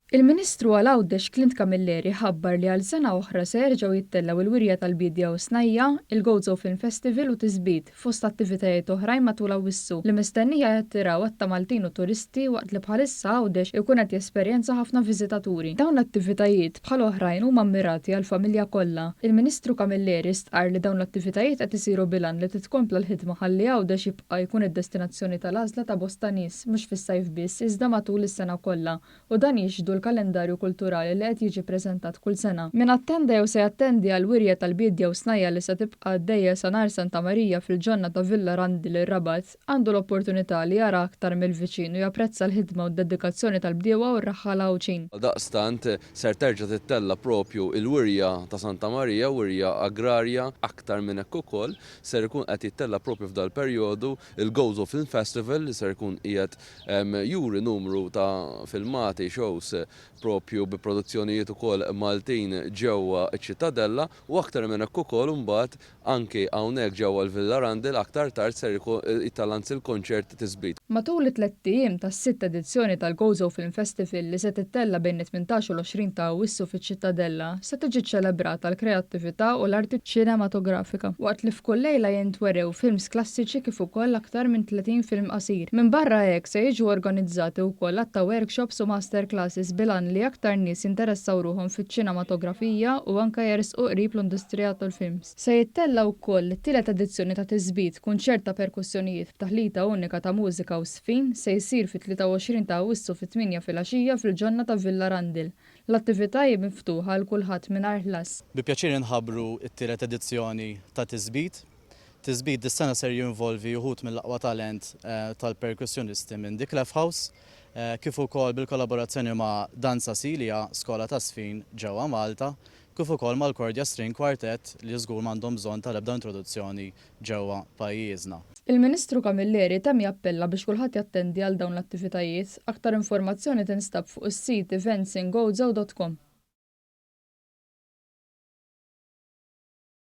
Il-Ministru għal Għawdex Clint Camilleri ħabbar li għal sena oħra se jerġgħu jittellgħu l-wirja tal-biedja u snajja', il-Gozo Film Festival u Tisbit, fost attivitajiet oħrajn matul Awwissu, li mistennija jattiraw għadd ta' Maltin u turisti waqt li bħalissa Għawdex ikun qed jesperjenza ħafna viżitaturi. Dawn l-attivitajiet, bħal oħrajn huma mmirati għall-familja kollha. Il-Ministru Camilleri stqarr li dawn l-attivitajiet qed isiru bil-għan li titkompla l-ħidma ħalli Għawdex A jkun id-destinazzjoni tal-għażla ta' bosta nies, mhux fis-sajf biss, iżda matul is-sena kollha, u dan jixhdu l-kalendarju kulturali li qed jiġi ppreżentat kull sena. Min attenda jew se jattendi għal wirja tal-bied jew snajja' li se tibqa' għaddejja sa nhar Santa Marija fil-ġonna ta' Villa Randil ir-Rabat, għandu l-opportunità li jara aktar mill-viċin u japprezza l-ħidma u d-dedikazzjoni tal-bdiewa u r-raħħala Għawdxin. Għaldaqstant, ser terġa' tittella' proprju l-wirja ta' Santa Marija, wirja agrarja, aktar minn hekk ukoll, ser ikun qed jittella' propju f'dal-perjodu, il-Goes of Film Festival li ser ikun qiegħed juri numru ta' filmati, shows, propju bi produzzjonijiet ukoll Maltin ġewwa ċ-Ċittadella u aktar minn hekk ukoll imbagħad anki hawnhekk ġewwa l-Villa Randall aktar tard ser jittella' anzi l-kunċert tisbit. Matul it-tlett ijiem tas-sitt edizzjoni tal-Gozo Film Festival li se tittella' bejn it-tmintax u l-għoxrin ta' Awwissu fiċ-Ċittadella, se tiġi ċċelebrata l-kreattività u l-arti ċinematografika, waqt li f'kull lejla jintwerew films klassiċi kif ukoll aktar minn tletin film qasir. Minbarra hekk, se jiġu organizzati wkoll għadd ta' workshops u masterclasses bil-għan li aktar nies jinteressaw ruħhom fiċ-ċinematografija u anke jersqu qrib l-industrija tal-films. Se jittella' wkoll it-tielet edizzjoni ta' Tisbit, kunċert ta' perkussjonijiet b'taħlita unika ta' mużika u żfin, se jsir fit-23 ta' Awwissu fit-tmienja filgħaxija fil-ġonna ta' Villa Randil. L-attività hi miftuħa għal kulħadd mingħajr ħlas. Bi pjaċir inħabbru t-tielet edizzjoni ta' Tisbit. Tisbit dis-sena ser jinvolvi uħud mill-aqwa talent tal-perkussjonisti minn The Clef House, kif ukoll bil-kollaborazzjoni ma' Danza Silja, skola ta' żfin ġewwa Malta, kif ukoll mal-Kordia String Quartet li żgur m'għandhom bżonn tal-ebda introduzzjoni ġewwa pajjiżna. Il-Ministru Camilleri temm jappella biex kulħadd jattendi għal dawn l-attivitajiet. Aktar informazzjoni tinstab fuq is-sit eventsingozo.com.